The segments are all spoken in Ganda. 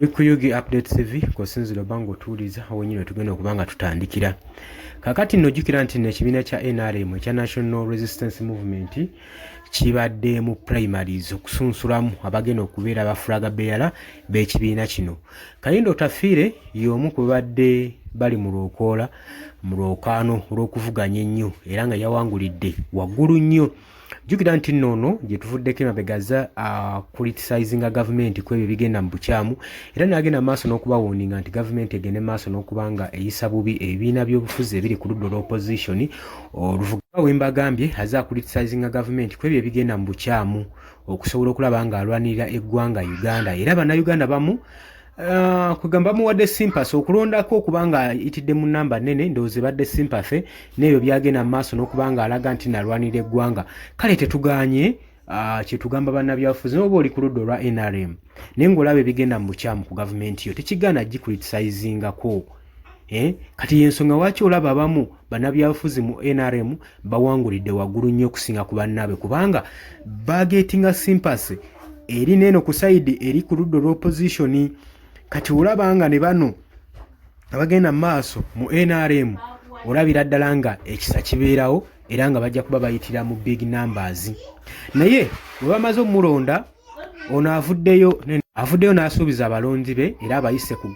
bikuyugi update tv kusinzira oba nga otuwuliza wenyini wetugenda okuba nga tutandikira kakati nojukira nti nekibiina kya nrm ekya national resistance movement kibadde mu primaries okusunsulamu abagenda okubeera abafulaga beyala b'ekibiina kino kayindo otafiire y'omu ku babadde bali mu lwokoola mu lwokaano olw'okuvuganya ennyo era nga yawangulidde waggulu nnyo jjukira nti nno ono gye tuvuddeko emabegaza akulitisayizinga uh, gavumenti ku ebyo ebigenda mu bukyamu era n'agenda maaso n'okubawuninga nti gavumenti egende maaso n'okuba nga eyisa bubi ebibiina by'obufuzi ebiri ku ludda olw'opozisioni Oluvuga wembagambye aze akulitisazinga gavumenti kwebyo ebigenda mu bukyamu okusobola okulaba nga alwanirira eggwanga Uganda era bannayuganda bamu uh, kwegamba bamuwadde simpasi okulondako okuba nga itidde mu namba nene ndowooza ebadde simpase neebyo byagenda mu maaso n'okuba nga alaga nti nalwanirira eggwanga kale tetuganye Ah, kyetugamba bannabyabufuzi noba oli ku ludda olwa nrm naye ngaolaba ebigenda mu bukyamu ku gavumenti yo tekigaana gikulitisayizingako eh, kati yensonga waki olaba abamu bannabyabufuzi mu nrm bawangulidde waggulu nnyo okusinga ku bannaabwe kubanga bagetinga simpasy eri neeno ku sayidi eri ku ludda olwopozitioni kati olaba nga ne bano abagenda mu maaso mu nrm olabira ddala nga ekisa kibeerawo era nga bajja kuba bayitira mu big numbers naye bwe bamaze omulonda ono avuddeyo avuddeyo n'asuubiza abalonzi be era abayise ku,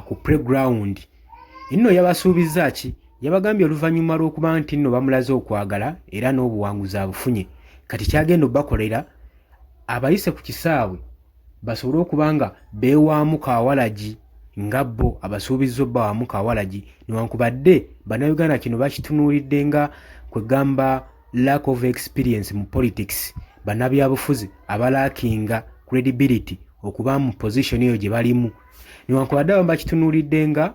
ku preground enno yabasuubizza ki yabagambye oluvannyuma lw'okuba nti nno bamulaze okwagala era n'obuwanguzi abufunye kati kyagenda obakolera abayise ku kisaawe basobole okuba nga beewaamu kawalagi nga bo abasuubizza obbawaamu kawalagi newankubadde bannayuganda kino bakitunuulidde nga kwe gamba lack of experience mu politics bannabyabufuzi abalaakinga credibility okuba mu position eyo gye balimu newankubadde abamu bakitunuulidde nga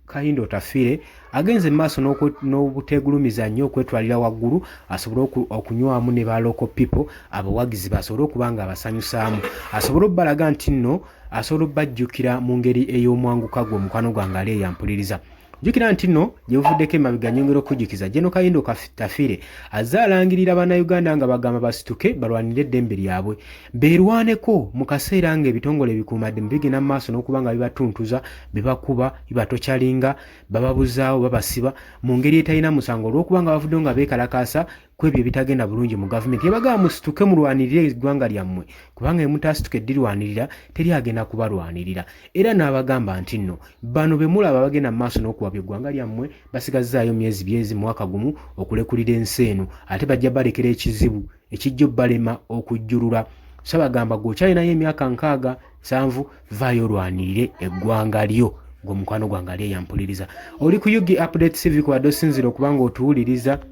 Kahinda Otafiire agenze maaso n'obuteegulumiza nnyo okwetwalira waggulu asobole okunywamu ne ba local people abawagizi basobole okuba nga abasanyusaamu asobole okubalaga nti nno asobola okubajjukira mu ngeri ey'omwanguka gwe omukwano gwange ali eyampuliriza jukira nti no gyebuvuddeko emabega nyongera okujjukiza jeno kayindo kafitafire azze alangirira bannayuganda nga bagamba basituke balwanire eddembe lyabwe beerwaneko mu kaseera nga ebitongole ebikuumaddemu bigenda mu maaso n'okuba nga bibatuntuza bibakuba bibatokyalinga bababuzaawo babasiba mu ngeri etalina musango olw'okuba nga bavuddewo nga beekalakaasa ku ebyo ebitagenda bulungi mu gavumenti ebagaba musituke mulwanirire eggwanga lyammwe kubanga emutaasituka eddirwanirira teri agenda kubalwanirira era n'abagamba nti nno bano be mulaba bagenda mu maaso n'okuwabya eggwanga lyammwe basigazzaayo myezi byezi mwaka gumu okulekulira ensi eno ate bajja balekera ekizibu ekijja obbalema okujjulula sabagamba gwe okyalinayo emyaka nkaaga nsanvu vaayo olwanirire eggwanga lyo ngaomukwano gwange ali eyampuliriza oli ku ug update cv kubadde osinzira okubanga otuwuliriza